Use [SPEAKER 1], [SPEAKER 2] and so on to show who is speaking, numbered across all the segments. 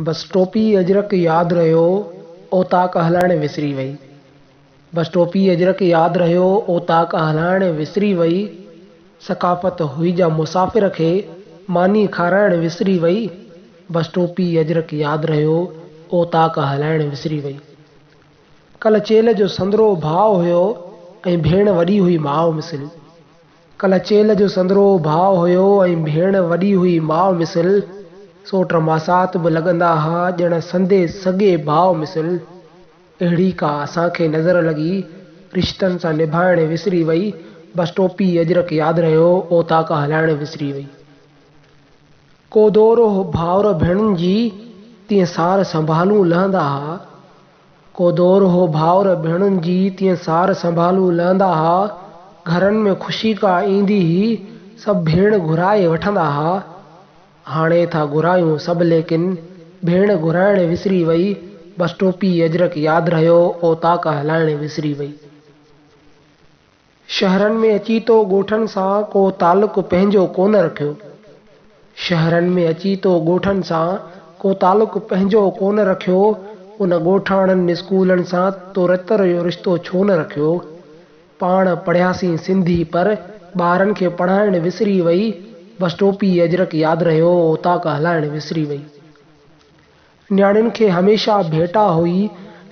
[SPEAKER 1] بس ٽوپي اجرڪ ياد رهيو اوطاق هلائڻ وسري وئي. بس ٽوپي اجرڪ ياد رهيو اوطاق هلائڻ وسري وئي. ثقافت هئي جا مسافر کي ماني کارائڻ وسري وئي. بس ٽوپي اجرڪ ياد رهيو اوطاق هلائڻ وسري وئي. ڪل چيلهه جو سندرو ڀاء هيو ۽ ڀيڻ وڏي هئي ماء مثل. ڪلچيل جو سندرو ڀاء هيو ۽ ڀيڻ وڏي هئي ماء مثل، سو ٽماسات به لڳندا ها ڄڻ سندي سڳي ڀاء مثل. اهڙي ڪا اسان کي نظر لڳي، رشتن سان نڀائڻ وسري وئي، بس ٽوپي اجرڪ ياد رهيو، اوطاق هلائڻ وسري وئي. ڪو دور هو ڀائر ڀيڻن جي، تيئن سار سنڀالون لهندا ها. ڪو دور هو ڀائر ڀيڻن جي تيئن سار سنڀالون لهندا ها. گهرن ۾ خوشي ڪا ايندي هئي، سڀ ڀيڻ گهرائي وٺندا ها. هاڻي ٿا گهرايون سڀ ليڪن ڀيڻ گهرائڻ وسري وئي، بس ٽوپي اجرڪ ياد رهيو، اوطاق هلائڻ وسري وئي. شهرن ۾ اچي تو ڳوٺن سان ڪو تعلق پنهنجو ڪونه رکيو شهرن ۾ اچي تو ڳوٺن سان ڪو تعلق پنهنجو ڪونه رکيو ان ڳوٺاڻن اسڪولن سان تو رتر جو رشتو ڇو نه رکيو پاڻ پڙهياسين سنڌي پر ٻارن کي پڙهائڻ وسري وئي بس ٽوپي اجرڪ ياد رهيو اوطاق هلائڻ وسري وئي. نياڻين کي هميشه ڀيٽا هئي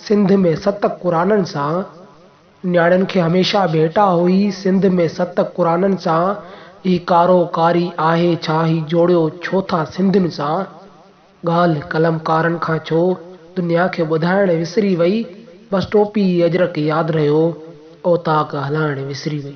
[SPEAKER 1] سنڌ ۾ ست قرآنن سان نياڻين کي هميشه ڀيٽا هئي سنڌ ۾ ست قرآنن سان هي ڪارو ڪاري آهي ڇا هي جوڙيو ڇو ٿا سنڌين سان ڳالهه قلمڪارن کان ڇو دنيا کي ٻڌائڻ وسري وئي بس ٽوپي اجرڪ ياد رهيو اوطاق هلائڻ وسري وئي.